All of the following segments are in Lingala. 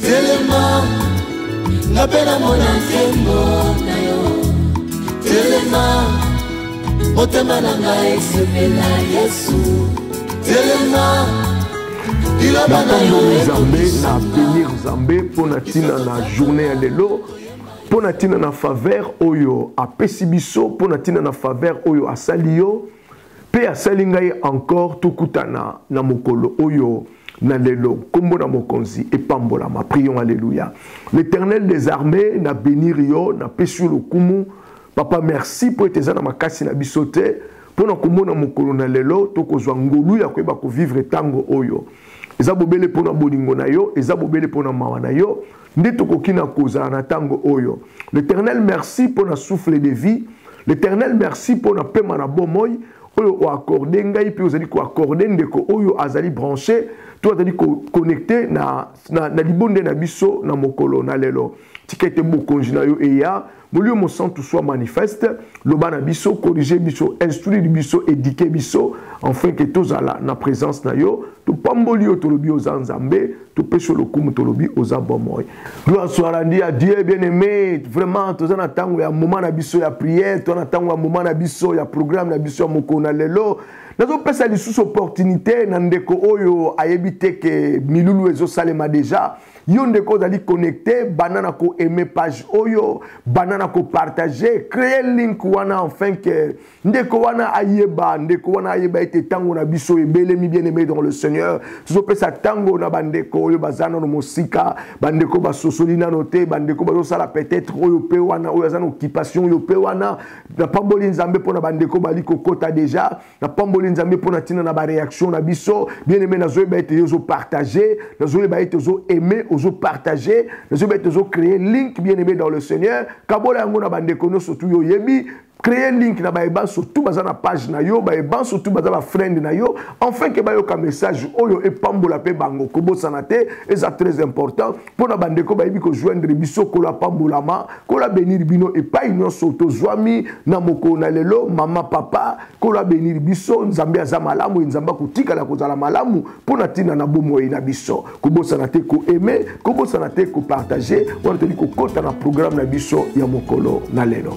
telema nga mpe namona nkembo na yo telema motema na nga esepela yesu telema liloba na yo nzambe na benir nzambe mpo na ntina na journée ya lelo mpo na ntina na faveur oyo apesi biso mpo na ntina na faveur oyo asali yo Mpe asali ngai encore tokutana na mokolo oyo na lelo nkombo na mokonzi epambolama prions alleluya l'éternel des armées na benir yo napesi yo lokumu papa merci mpo ete eza na makasi na biso te mpo na komona mokolo na lelo tokozwa ngolu ya koyeba kovivre ntango oyo eza bobele mpo na bolingo na yo eza bobele mpo na mawa na yo nde tokoki na kozala na ntango oyo l'éternel merci mpo na souffle de vie l'éternel merci mpo na pema na bomoi oyo oakorde ngai mpe ozali koakorde ndeko oyo azali branche to azali koconnecte na, na, na libonde na biso na mokolo na lelo tika ete bokonzi na yo eya Molimo Mosantu soit manifeste, loba na biso, corriger biso, instruire biso, éduquer biso, enfin que tozala na présence na yo, topamboli yo tolobi oza Nzambe, topesi yo lokumu tolobi oza bomoi. Gloire soit rendue à Dieu bien-aimé. Vraiment toza na tango ya moment na biso ya prière, toza na tango ya moment na biso ya programme na biso ya mokolo na lelo. Nazopesa lisusu opportunité na ndeko oyo ayebi te ke milulu ezosalema déjà. yo ndeko ozali connecte banda na koaime page oyo banda na kopartage cree link wana enfin ke ndeko wana ayeba ndeko wana ayeba ete ntango na biso ebelemi bien aimé dans le seigneur tozopesa ntango na bandeko oyo baza nano mosika bandeko basosoli nano te bandeko bazosala peut-être oyo mpe wana oyo aza na occupation oyo mpe wana napamboli nzambe mpo na bandeko bali kokota deja napamboli nzambe mpo na ntina na bareaction na biso bien aime nazoyeba ete yo ozopartage nazoyeba ete ozoaime ozopartage nazoyeba ete ozocree link bien aime dans le seigneur kabola yango na bandeko nyonso tu yo oyebi créer link na baye banso tout baza na page na yo baye banso tout baza bafriend na yo enfin ke bayoka message oyo epambola mpe bango kobosana te eza très important mpo na bandeko bayebi kojoindre biso nkolo apambolama nkolo abenir bino epai nyonso tozwami na mokolo na lelo mama papa nkolo abenir biso nzambe aza malamu ye nzambe akotikala kozala malamu mpo na ntina na bomoi na biso kobosana te koaime kobosana te kopartage wana toyeli kokɔta na programme na biso ya mokolo na lelo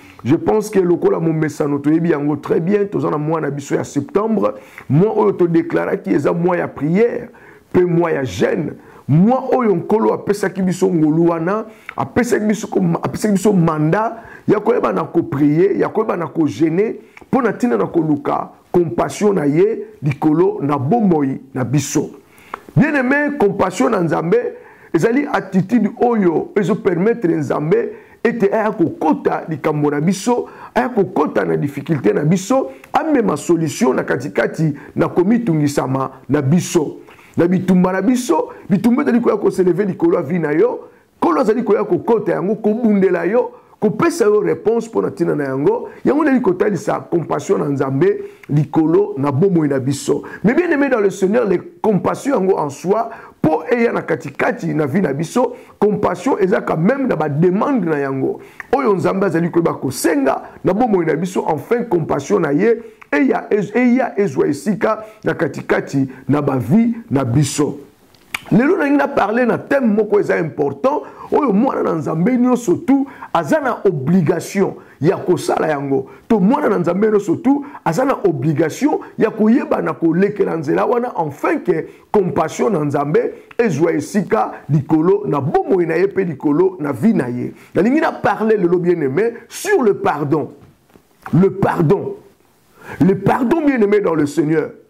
je pense que lokola momesano toyebi yango très bien toza na mois na biso ya septembre mois oyo todeklaraki eza mois ya prière mpe mois ya jeune mois oyo nkolo apesaki biso ngolu wana apesaki biso, apesaki biso manda ya koyeba na koprie ya koyeba na kogene mpo na ntina na koluka compassion na ye likolo na bomoi na biso bien aime compassion na nzambe ezali attitude oyo ezopermettre nzambe ete aya kokota likambo na biso aya kokota na difficulté na biso amema solution na katikati na komitungisama na biso na bitumba na biso bitumba ezali koya koseleve likolo ya vi na yo nkolo azali koya kokota yango kobundela yo kopesa yo réponse mpo na ntina na yango yango ndeli kotalisa compassion na nzambe likolo na bomoi na biso mais bien aimé dans le seigneur le compassion yango en soi mpo eya na katikati na vie na biso compassion ezalaka meme na bademande na yango oyo nzambe azali koyeba kosenga na bomoi na biso enfin compassion na ye eya ezwa esika na katikati na bavie na biso lelo nalingi na parle na thème moko eza important oyo mwana na nzambe nyonso tu aza na obligation ya kosala yango to mwana na nzambe nyonso tu aza na obligation ya koyeba na kolekela nzela wana enfin ke compassion na nzambe ezwa esika likolo na bomoi na ye mpe likolo na vie na ye nalingi na parle lelo bien aimé sur le pardon le pardon le pardon bien aimé dans le seigneur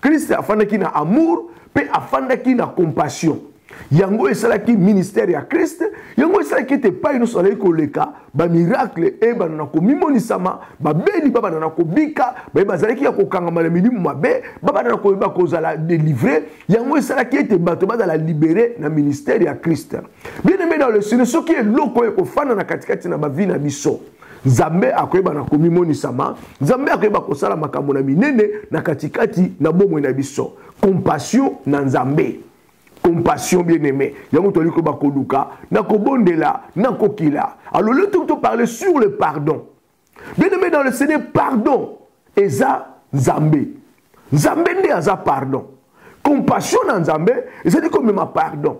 Christ afandaki na amour pe afandaki na compassion. Yango esalaki ministère ya Christ, yango esalaki ete epai nyonso azalaki koleka bamiracle eyebana na komimonisama, babeli babanda na kobika, baye bazalaki ya kokangama na milimu mabe babanda na koyeba kozala delivre. Yango esalaki ete bato bazala libere na ministère ya Christ. Bien aime dans le Seigneur, soki eloko ekofanda na katikati na bavi na biso nzambe akoyeba na komimonisama nzambe akoyeba kosala makambo na minene na katikati na bomoi na biso compassion na nzambe compassion bien aimé yango toli koyeba koluka na kobondela na kokila alors le tout parler sur le pardon bien aimé dans le seigneur pardon eza nzambe nzambe nde aza pardon compassion na nzambe ezali komema pardon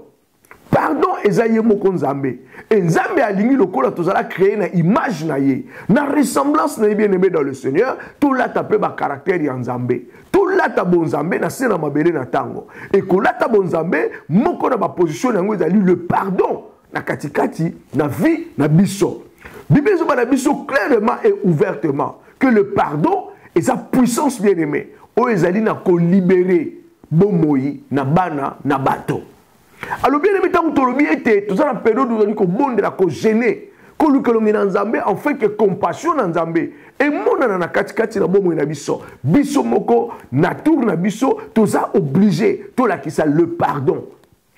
pardon eza ye moko nzambe e nzambe alingi lokola tozala créer na image na ye na ressemblance na ye bien aimé dans le seigneur tolata mpe bacaractère ya nzambe tolata bonzambe na se na mabele na ntango ekolata bonzambe moko na baposition na yango ezali le pardon na katikati na vie na biso biblia ezoba na biso clairement et ouvertement que le pardon eza puissance bien aimé oyo ezali na kolibere bomoi na bana na bato alobi elemi ntango tolobi ete toza na periode tozali kobondela kogene koluka elongi na nzambe enfin ke compassion na nzambe emonana na katikati na bomoi na biso biso moko na tour na biso toza oblige tolakisa le pardon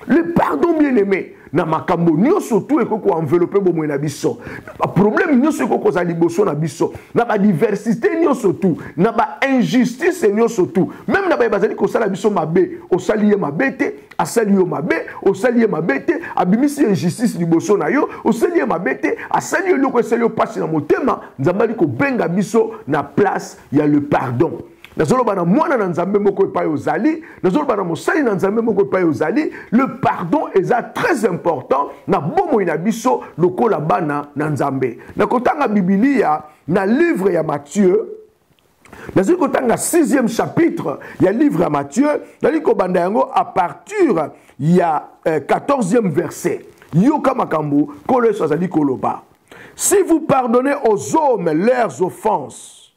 le pardon bien aimé na makambo nyonso tu ekoki koenvelope bomoi na biso baproblème nyonso ekoki kozala liboso na biso na badiversité nyonso tu na bainjustice nyonso tu meme na baye bazali kosala biso mabe osali ye mabe te asali yo mabe osali ye mabe te abimisi injustice liboso na yo osali ye mabe te asali yo eloko esali yo mpasi na motema nzambe ali kobenga biso na place ya le pardon nazoloba na mwana na nzambe moko epai ozali nazoloba na mosali na nzambe moko epai ozali le pardon eza très important na bomoi na biso lokola bana na nzambe na kotanga bibilia na livre ya mathieu nazali kotanga 6e chapitre ya livre ya mathieu nazali kobanda yango à partir ya 14e euh, verset yoka makambo nkolo yesu azali koloba si vous pardonnez aux hommes leurs offenses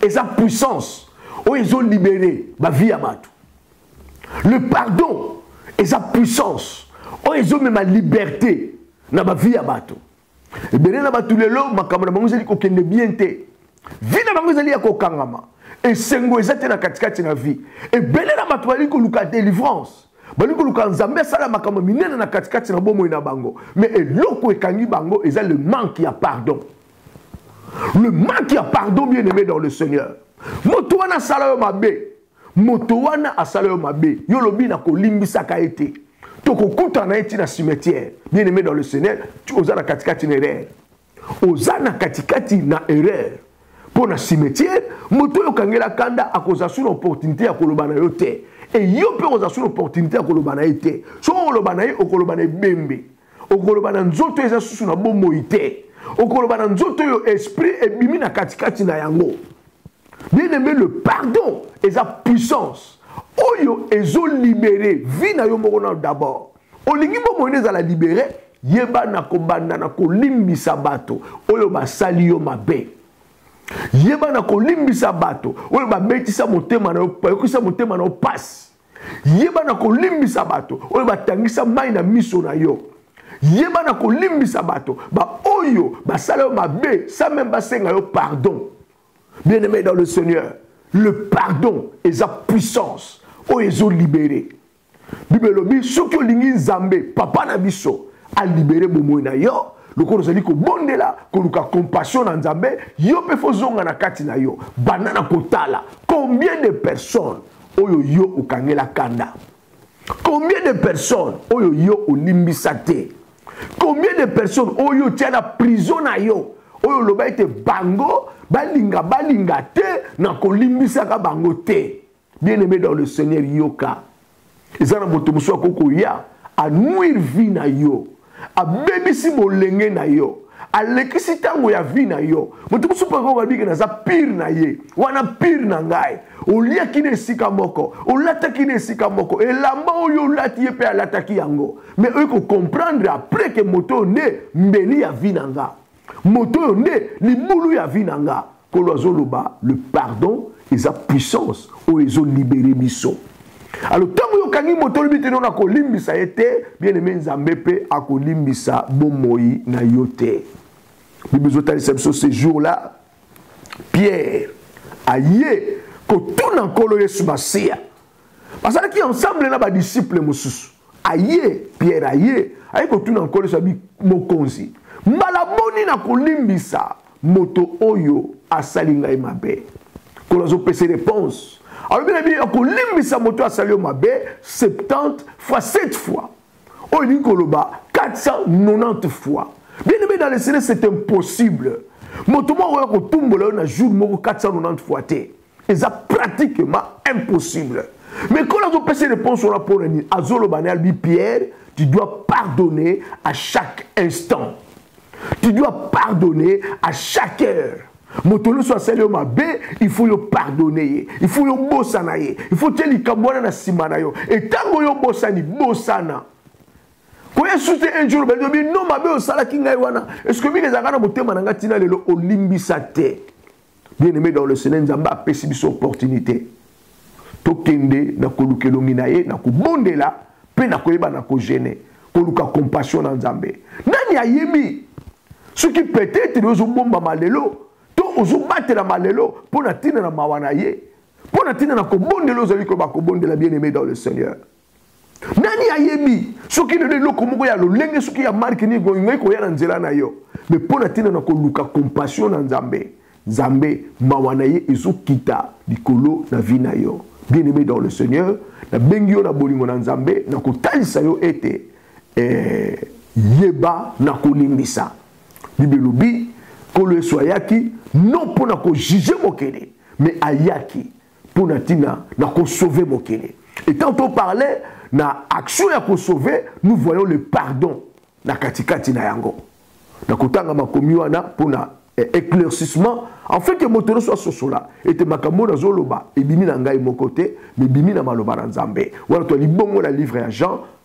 eza puissance oyo ezo libere bavie ya bato le pardon eza puissance oyo ezomema liberté na bavie ya bato ebele na bato lelo makambo na bango ezali kokende bien te vi na bango ezali ya kokangama esengo eza te na katikati na vie ebele na bato bazali koluka délivrance balingi koluka nzambe asala makambo minene na katikati na bomoi na bango me eloko ekangi bango eza le manque ya pardon le manque ya pardon bien aimé dans le seigneur moto wana asala yo mabe moto wana asala yo mabe yo olobi na kolimbisaka ye te tokokutana na ye ntina cimetière bien aimé dans le seigneur oza na katikati na erreur oza na katikati na erreur mpo na cimetière moto oyo okangela kanda akozala su na opportunité ya koloba na yo te eyo mpe okozala su na opportunité ya koloba na ye te soki okoloba na ye okoloba na ebembe okoloba na nzoto eza susu na bomoi te okoloba na nzoto oyo esprit ebimi na katikati na yango bien aimé le pardon eza puissance oyo ezolibere vi na yo moko nano d'abord olingi bomoi nde ezala libere yeba na kobanda na kolimbisa bato oyo basali yo mabe yeba na kolimbisa bato oyo babetisa motema na yo bayokisa motema na yo mpasi yeba na kolimbisa bato oyo batangisa mai na miso na yo yeba na kolimbisa bato baoyo basala yo mabe sans meme basenga yo pardon bien aimé dans le seigneur le pardon eza puissance oyo ezolibere bible elobi soki olingi nzambe papa na biso alibere bomoi na yo lokola ozali kobondela koluka compassion na nzambe yo mpe fozonga na kati na yo banda na kotala combien de personnes oyo yo okangela kanda combien de personnes oyo yo olimbisa te combien de personnes oyo otya na prison na yo oyo oloba ete bango balinga balinga te na kolimbisaka bango te bien aimé dans le seigneur yoka eza na moto mosusu akoki koya anuire vie na yo abebisi bolenge na yo alekisi ntango ya vi na yo moto mosusu mpe okobiki naza pire na ye wana pire na ngai oliaki na esika moko olataki na esika moko elamba oyo olati ye mpe alataki yango me oyo kokomprendre apres ke moto oyo nde mbeli ya vi na nga moto oyo nde libulu ya vi na nga nkolo azoloba le pardon eza puissance oyo ezolibere biso alo ntango oyo okangi moto olobi te nona kolimbisa ye te bien aime nzambe mpe akolimbisa bomoi na yo te bible ezotalisa biso ce jour là pierre aye kotuna nkolo yesu masiya bazalaki ensemble na badisiple mosusu aye pierre aye aye kotuna nkolo yesu abi mokonzi mbala boni na kolimbisa moto oyo asali ngai mabe nkolo azopesa reponse alobi na bino akolimbisa moto oyo asali yo mabe 70 fois 7 fois oyo elingi koloba 490 fois bien aimé dans le seigneur c'est impossible moto moko akoya kotumbola yo na jour moko 490 fois te eza pratiquement impossible mais quand azopesa réponse wana mpo na nini azoloba na albi pierre tu dois pardonner à chaque instant tu dois pardonner à chaque heure moto nyonso asali yo mabe il faut yo pardonne ye il faut yo obosana ye il faut tie likambo wana na nsima na yo etango yo obosani bosana koya susu te un jour obeli obi no mabe osalaki ngai wana eske mingi ezalaka na motema na ngai ntina lelo olimbisa te bien aimé dans le seigneur nzambe apesi biso opportunité tokende na koluka elongi na ye na kobondela mpe na koyeba na kogene koluka compassion na nzambe nani ayebi soki peut-être ozobombama lelo to ozobatelama lelo mpo na ntina na mawa na ye mpo na ntina na kobondela ozali koyeba kobondela bien aimé dans le seigneur nani ayebi soki lelo eloko moko ya lolenge soki ya marke nini bolingai koya na nzela na yo me mpo na ntina na koluka compassion na nzambe nzambe mawa na ye ezokita likolo na vi na yo bien aimé dans le seigneur nabengi yo na bolingo na nzambe na kotalisa yo ete eh, yeba na kolimbisa bible elobi nkolo yesu ayaki non mpo na kojuge mokili me ayaki mpo na ntina na kosauve mokili et quand on parlait na action ya kosauve nous voyons le pardon na katikati na yango na kotanga makomi wana mpo na eh, éclaircissement en fait moto nyonso asosola ete makambo oyo nazoloba ebimi na ngai moko te mebimi na maloba na nzambe wana to libongo na livre ya jean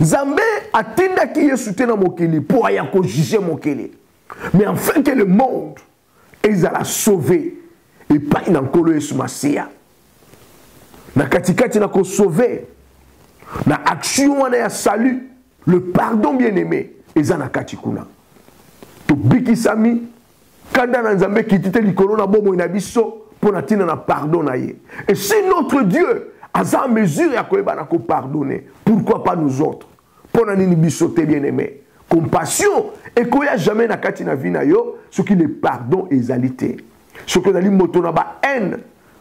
Nzambe atindaki Yesu te na mokili mpo aya kojuge mokili mais enfin que le monde ezala sauve epai na nkolo yesu masiya na katikati na kosauve na action wana ya salut le pardon bien aimé eza na kati kuna tobikisami Kanda na Nzambe ekiti te likolo na bomoi na biso mpo na ntina na pardon na ye. Et si notre Dieu aza en mesure ya koyeba na kopardonner, pourquoi pas nous autres? Mpo na nini biso te bien aimé? Compassion ekoya jamais na kati na vie na yo soki le pardon ezali te. Soki ozali moto na ba haine,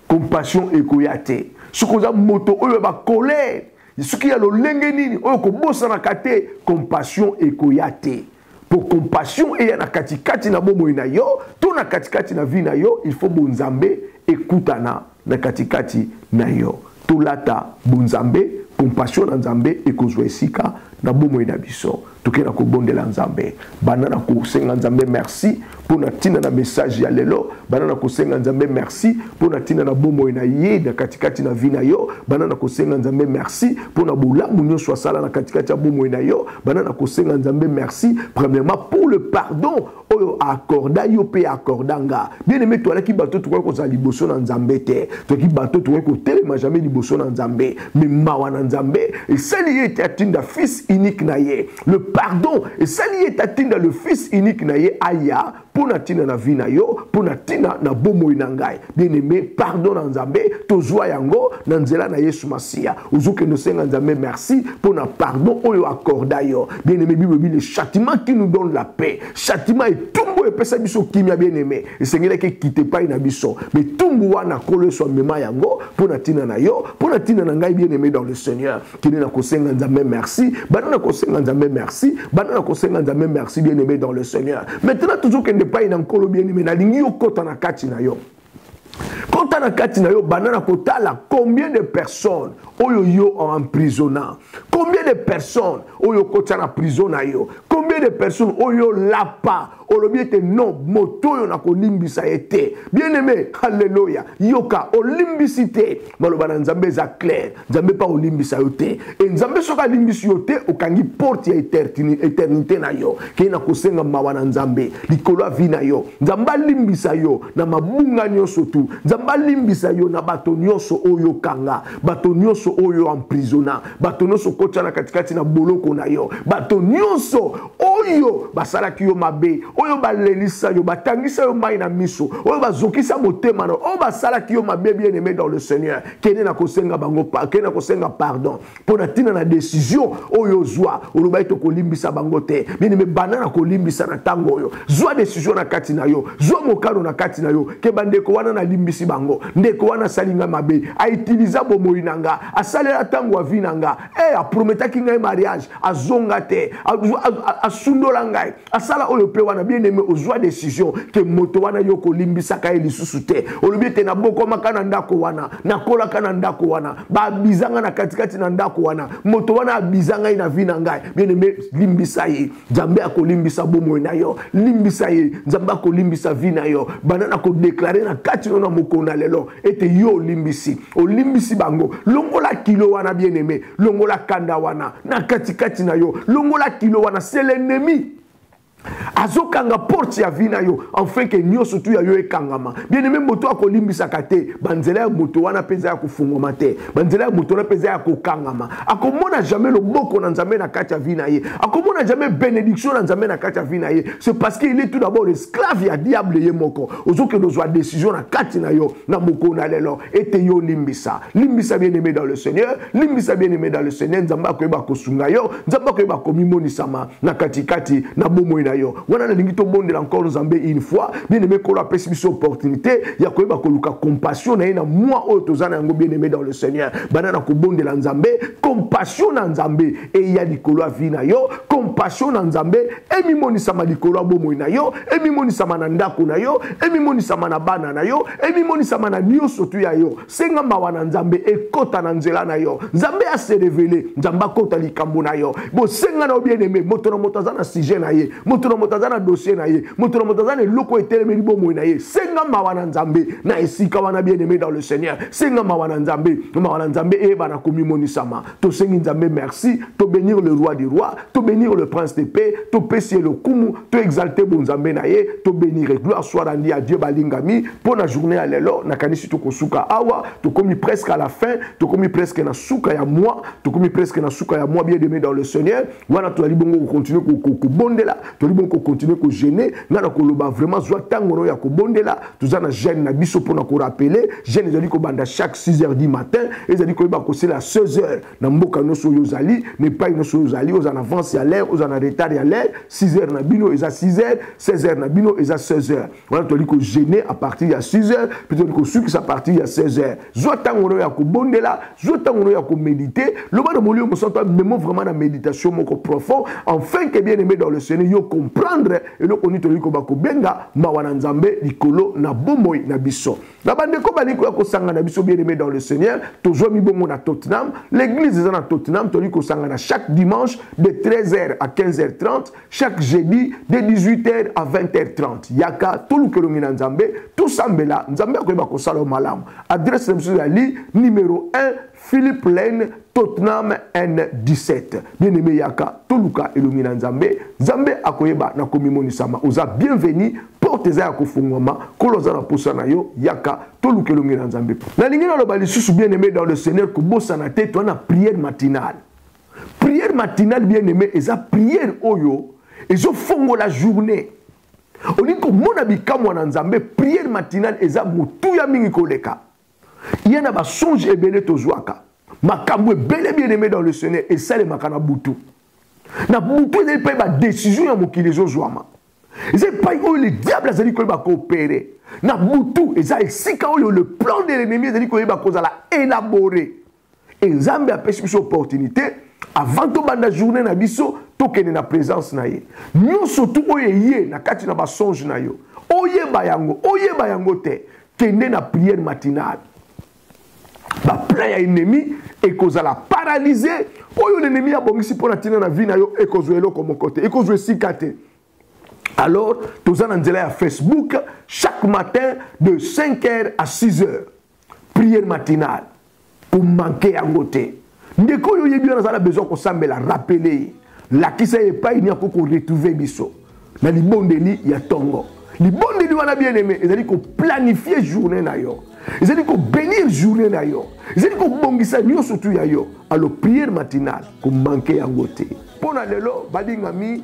compassion ekoya te. Soki oza moto oyo ba colère, soki ya lolenge nini oyo kobosanaka te, compassion ekoya te. Pour compassion eya na katikati na bomoi na yo to na katikati na vie na yo, il faut bonzambe ekutana na katikati na yo. Tolata bonzambe, compassion na Nzambe ekozwa esika na bomoi na biso. Tokenda kobondela Nzambe, banda na kosenga Nzambe merci mpo na ntina na message ya lelo banda na kosenga nzambe merci mpo na ntina na bomoi na ye na katikati na vi na yo banda na kosenga nzambe merci mpo na bolamu nyonso asala na katikati ya bomoi na yo banda na kosenga nzambe merci premièrement pour le pardon oyo aaccorda yo mpe accorda nga bien aime toalaki bato tokoki kozala liboso na nzambe te toki bato tokoki kotelema jamais liboso na nzambe me mawa na nzambe esali ye ete atinda fils unique na ye le pardon esali ye tatinda le fils unique na ye aya mpo na ntina na vi na yo mpo na ntina na bomoi na ngai bien aime pardon na nzambe tozwa yango na nzela na yesu masiya ozokende osenga nzambe merci mpo na pardon oyo akorda yo bien aime bible ebi le châtiment qui nous donne la paix châtiment etumbu oyo epesa biso kimia bien aime esengelaki ekite epai na biso me ntumbu wana kolo yesu amema yango mpo na ntina na yo mpo na ntina na ngai bien aime dans le seigneur kende na kosenga nzambe merci banda na kosenga nzambe merci banda na kosenga nzambe merci bien aimé dans le seigneur maintenant toujours kende epai na nkolo bien aimé nalingi yo kota na kati na yo kota na kati na yo banda na kotala combien de personnes oyo yo emprisonna combien de personnes oyo okotya na prison na yo combien de personnes oyo olapa olobi ete non moto oyo nakolimbisa ye te bien aime halleluya yoka olimbisi te maloba na nzambe eza claire nzambe mpe akolimbisa yo te e nzambe soki alimbisi yo te okangi porte ya eternité na yo kei na kosenga mawa na nzambe likolo ya vi na yo nzambe alimbisa yo na mabunga nyonso tu nzambe alimbisa yo na bato nyonso oyo okanga bato nyonso oyo emprisona bato nyonso okotya na katikati na boloko na yo bato nyonso oyo basalaki yo mabe oyo balelisa yo batangisa yo mai na miso oyo bazokisa motema na oyo basalaki yo mabe bien aimé dans le seigneur kende na kosenga bango kende na kosenga pardon mpo na ntina na décision oyo ozwa olobaki tokolimbisa bango te bien aimé banda na kolimbisa na ntango oyo zwa décision na kati na yo zwa mokano na kati na yo ke bandeko wana nalimbisi bango ndeko wana asali ngai mabe aitiliza bomoi na nga asalela ntango avi na nga Hey, eh, aprometaki ngai mariage azonga te asundola ngai asala oyo mpe wana bien aime ozwa décision ke moto wana yo kolimbisaka ye lisusu te olobi ete nabokomaka na ndako wana nakolaka na ndako wana baabizanga na katikati na ndako wana moto wana abiza ngai na vi na ngai bien aime limbisa ye nzambe akolimbisa bomoi na yo limbisa ye nzambe akolimbisa vi na yo banda na kodeklare na kati no na mokolo na lelo ete yo olimbisi olimbisi bango longola kilo wana bien aime longola kanda wana na katikati na yo longola kilo wana se l'ennemi azokanga porte ya vi na yo enfin ke nyonso tu ya yo ekangama bien aime moto akolimbisaka te banzela ya moto wana mpenza ya kofungwama te banzela ya moto wana mpenza ya kokangama akomona jamais loboko na nzambe na kati ya vi na ye akomona jamais bénédiction na nzambe na kati ya vi na ye c'est parce qu'il est tout d'abord esclave ya diable ye moko ozokende ozwa décision na kati na yo na mokolo na lelo ete yo limbisa limbisa bien aimé dans le seigneur limbisa bien aimé dans le seigneur nzambe akoyeba kosunga yo nzambe akoyeba komimonisama na katikati na bomoi na yo wana nalingi tobondela encore nzambe une fois bien aimé nkolo apesi biso opportunité ya koyeba koluka compassion na ye na mwa oyo toza na yango bien aimé dans le seigneur banda na kobondela nzambe compassion na nzambe eya likolo ya vi na yo compassion na nzambe emimonisama likolo ya bomoi na yo emimonisama na ndako na yo emimonisama na bana na yo emimonisama na nyonso tu ya yo senga mawa na nzambe ekota na nzela na yo nzambe ya se revele nzambe akota likambo na yo bosenga na yo bien aime moto na moto aza na sujet na ye moto na moto aza na dossier na ye moto na moto aza na eloko oyo etelemeli bomoi na ye senga mawa na nzambe na esika wana bien aime dans le seigneur senga mawa na nzambe mawa na nzambe eyebana komimonisama tosengi nzambe merci to bénir le roi du roi to bénir le prince de paix topesi ye lokumu to exalte bonzambe na ye to bénire gloire soit rendi ya dieu balingami mpo na journée ya lelo nakanisi tokosuka awa tokomi presque à la fin tokomi presque na suka ya moi tokomi presque na suka ya moi bien aimé dans le seigneur wana tozali bongo kocontinue kobondela tozali bongo kocontinue kogene nga na koloba vraiment zwa ntango no ya kobondela toza na jeune na biso mpona korapele jeune ezali kobanda chaque 6 heures du matin ezali koyeba kosela 16 heures na mboka nyonso oyo ozali na epai nyonso oyo ozali oza na avance ya l'air oza na retard ya l'air 6 heures na bino eza 6 heures 16 heures na bino eza 16 heures wana tozali kogene à partir ya 6 heures mpe tozali kosukisa à partir ya 16 heures zwa ntango no ya kobondela zwa ntango no ya komedite loba na molimo mosantu amemo vraiment na méditation moko profond enfin que bien aimé dans le seigneur yo comprendre eloko nini tolingi koba kobenga mawa na nzambe likolo na bomoi na biso na bandeko balingi koya kosanga na biso bien aimé dans le seigneur tozwami bongo na tottenham l'église eza na tottenham tolingi kosanga na chaque dimanche de 13h à 15h30 chaque jeudi de 18h à 20h30 yaka toluka elongi na nzambe tosambela nzambe akoyeba kosala yo malamu adresse na biso ezali numero 1 philippe lane tottenham n17 bien aimé yaka toluka elongi na nzambe nzambe akoyeba na komimonisama oza bienveni porte eza ya kofungwama nkolo aza na mposa na yo yaka toluka elongi na nzambe nalingi naloba lisusu bien aimé dans le seigneur kobosana te toa na prière matinale prière matinale bien aimé eza prière oyo ezofongola journée olingi komona bikamwa na nzambe prière matinale eza motuya mingi koleka ye na basonge ebele tozwaka makambo ebele bien aimé dans le seigneur esalemaka na butu na butu ezali mpe badesizio ya mokili ezozwama eza epai oyo le diable azali koyeba koopere na butu eza esika oyo le plan de l'ennemi ezali koyeba kozala élabore et nzambe apesi biso opportunité avant tobanda journée na biso tokende na présence na ye nyonso tu oyo eye na kati na basonge na yo oyeba yango oyeba yango te kende na prière matinale baplan ya ennemi ekozala paralyse oyo l'ennemi abongisi mpo na ntina na vie na yo ekozwa eloko moko te ekozwa esika te alors toza na nzela ya facebook chaque matin de 5 heures à 6 heures prière matinale komanke yango te ndeko oyo oyebi wana aza na besoin kosambela rapele ye lakisa ye epai nini akoki koretrouve biso na libondeli ya ntongo libondeli wana bien aime ezali koplanifie journée na yo ezali kobenir journée na yo ezali kobongisa nyonso tu ya yo alo prière matinale komanke yango te mpo na lelo balingami